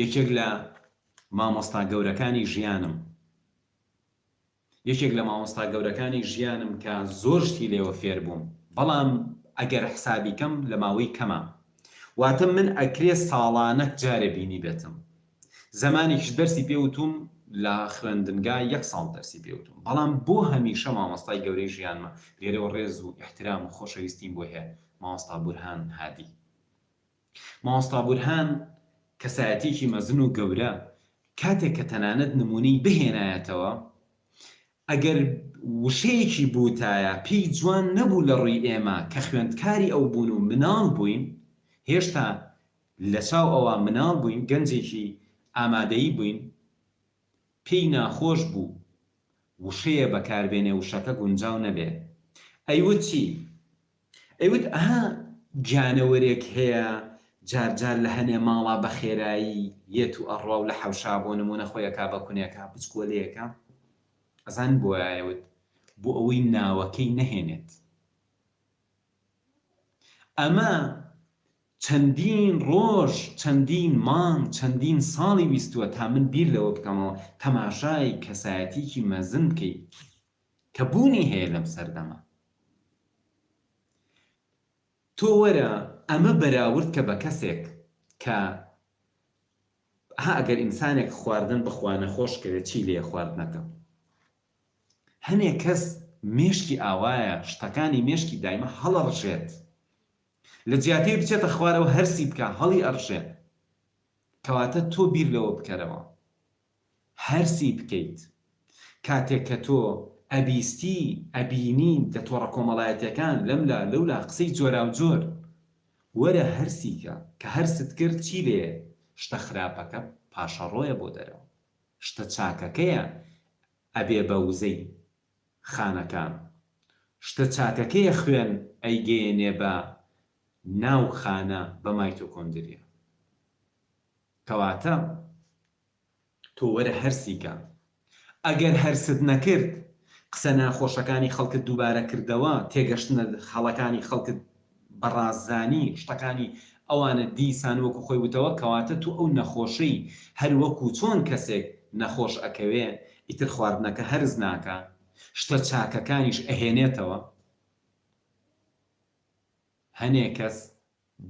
یەکێک لە مامۆستا گەورەکانی ژیانم یەکێک لە مامۆستا گەورەکانی ژیانم کە زۆر شتی لێوە فێر بووم بەڵام ئەگەر حسابی کەم لە ماوەی کەمە واتە من ئەکرێ ساڵانەک جارێ بینی بێتم زەمانێکیش دەرسی پێ وتوم لە خوێندنگا یەک ساڵ دەرسی پێ وتوم بەڵام بۆ هەمیشە مامۆستای گەورەی ژیانمە لێرەوە ڕێز و ئیحترام و خۆشەویستیم بۆی هەیە مامۆستا بورهان هادی. مامۆستا بورهان کەسایەتیەکی مەزن و گەورە کاتێک کە تەنانەت نمونەی بهێنایەتەوە ئەگەر وشەیەکی بوتایە پێی جوان نەبوو لە ڕوی ئێمە کە خوێندکاری ئەو بوون و مناڵ بوین هێشتا لە چاو ئەوا مناڵ بوین گەنجێکی ئامادەی بوین پێی ناخۆش بوو وشەیە بەکار بێنێ وشەکە گونجاو نەبێ ئەیوت چی؟ ئەیوت ئەها گیانەوەرێک هەیە جار جار لە هەنێ ماڵا بە خێرایی یێت و ئەڕوا و لە حەوشا بۆ نموونە خۆی ئەکا بە کونێکا بچکۆلەیەکە ئەزانن بۆ وایە ئەیوت بۆ ئەوەی ناوەکەی نەهێنێت ئەمە چەندین ڕۆژ چەندین مانگ چەندین ساڵی ویستووە تا من بیر لەوە بکەمەوە تەماشای کەسایەتیکی مەزن بکەی کە بوونی هەیە لەم سەردەمە. تۆ وەرە ئەمە بەراورد کە بە کەسێک کە ها ئەگەر ئینسانێک خواردن بخوا نەخۆش کەوێت چی لێیە خواردنەکە؟ هەنێ کەس مێشکی ئاوایە شتەکانی مێشکی دایمە هەڵەڕژێت لە جیاتێ بچێتە خوارەوە هەرسی بکا هەڵی ئەڕژێ کەواتە تۆ بیر لەوە بکەرەوە. هەرسی بکەیت کاتێک کە تۆ ئەبیستی ئەبینی لە تۆڕە کۆمەڵایەتیەکان لەم لا لەو لا قسەی جۆراو جۆر وەرە هەرسی کە کە هەرست کرد چی لێیە شتە خراپەکە پاشەڕۆیە بۆ دەرەوە شتە چاکەکەیە ئەبێ بە وزەی خانەکان شتە چاکەکەیە خوێن ئەیگەیەنێ بە ناو خانە بە مایتۆکۆندریا کەواتە تۆ وەرە هەرسیکە ئەگەر هەرست نەکرد قسە ناخۆشەکانی خەڵکت دووبارە کردەوە تێگەشتنە هەڵەکانی خەڵکت بەڕاست زانی شتەکانی ئەوانت دیسان وەکو خۆی وتەوە کەواتە تو ئەو نەخۆشەی هەر وەکو چۆن کەسێک نەخۆش ئەکەوێ ئیتر خواردنەکە هەرس ناکا شتە چاکەکانیش ئەهێنێتەوە هەنێ کەس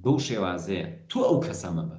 بەو شێوازەیە تو ئەو کەسە مەبە.